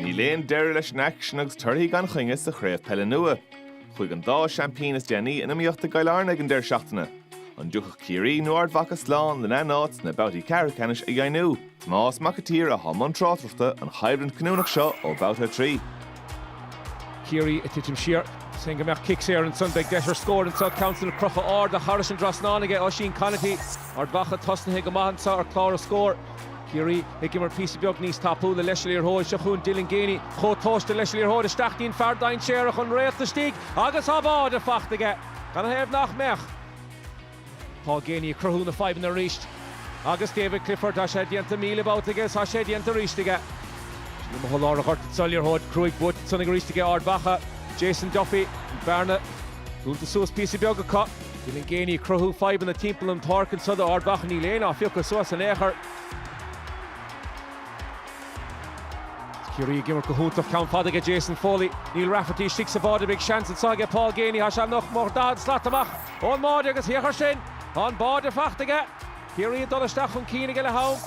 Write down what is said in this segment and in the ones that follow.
Níl aon deireadh leis an aicsean agus torthaí gan choinne sa chraobh peile nua. Chuaigh an dá seaimpín is déanaí in iomaíocht i gCill Airne ag an deireadh seachtaine, An dtiocfadh Ciarraí nó Ard Mhacha slán lena n-áit sna babhtaí ceathrú ceannais a dheimhniú. Tomás Mac a tSaoir athá i mbun tráchtaireachta an choimhlint cinniúnach seo ó Bhabhta 3. Ciarraí ag titim siar. Seans go mbeadh cic saor ansan. Beidh deis ar scór anso. Ceann san crochta in airde thairis an dtrasnán aige Oisín Conaty. Ard Mhacha tosnaithe go maith anso ar chlár na scór. Ciarraí ag imirt píosa beag níos tapúla leis an liathróid. Seo chugainn Dylan Geaney. Chomh tomhaiste leis an liathróid isteach dtí'n fear dainséarach, an réalt istigh agus tá báide fachta aige. Canathaobh nach mbeadh? Paul Geaney ag cruthú na fadhbanna arís. Agus David Clifford, tá sé déanta míle babhta aige is tá sé déanta arís aige. Sin é mo sholáthar ghort duit sa liathróid cruaidh buailte san ag arís aige Ard Mhacha, Jason Duffy. An bearna dúnta suas píosa beag acu. Dylan Geaney ag cruthú fadhbanna timpeall an pháirc anseo do Ard Mhacha, níl éinne á phiocadh suas in aon chor. Is Ciarraí ag imirt go hiontach, ceann fada aige Jason Foley. Níl Rafferty istigh sa bháide, beidh seans anseo aige Paul Geaney, tá sé nach mór 40 slat amach. Ón mbáide agus féach air sin, tá an báide fachta aige. Ciarraí ag dul isteach chun cinn aige leath-am.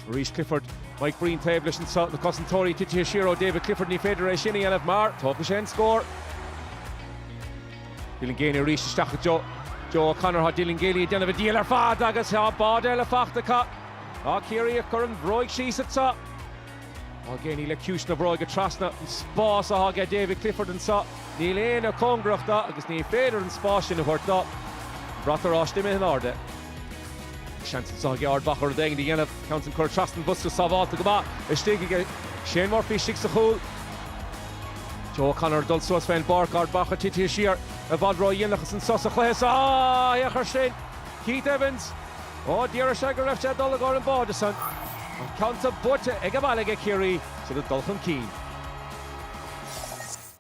Arís Clifford, Mike Breen taobh leis anseo, na cosantóirí titithe siar ó David Clifford, ní féidir é sin a dhéanamh mar tógfaidh sé an scór. Dylan Geaney arís isteach go Joe. Joe O'Connor, tá Dylan Geaney ag déanamh an diabhail ar fad agus tá báide eile fachta acu. Tá Ciarraí ag cur an bhróig síos anseo. Geaney le ciumhais na bróige trasna an spás atá aige David Clifford anseo, níl éinne cóngarach do agus ní féidir an spás sin a thabhairt do. An brat oráiste imithe in airde. Seans anseo aige Ard Mhacha rud éigin a dhéanamh. Ceann san curtha trasna an bhosca sábhálta go maith istigh aige Shane Murphy istigh sa chúl. Joe O'Connor ag dul suas fén bpáirc, Ard Mhacha titithe siar i bhfad ró-dhéanach anso sa chluiche seo. Ach féach air sin. Keith Evans, Ó, déarfadh sé go raibh sé ag dul i gcomhair an báide san. An ceann san buaite ag an mbaile aige, Ciarraí, siad ag dul chun cinn.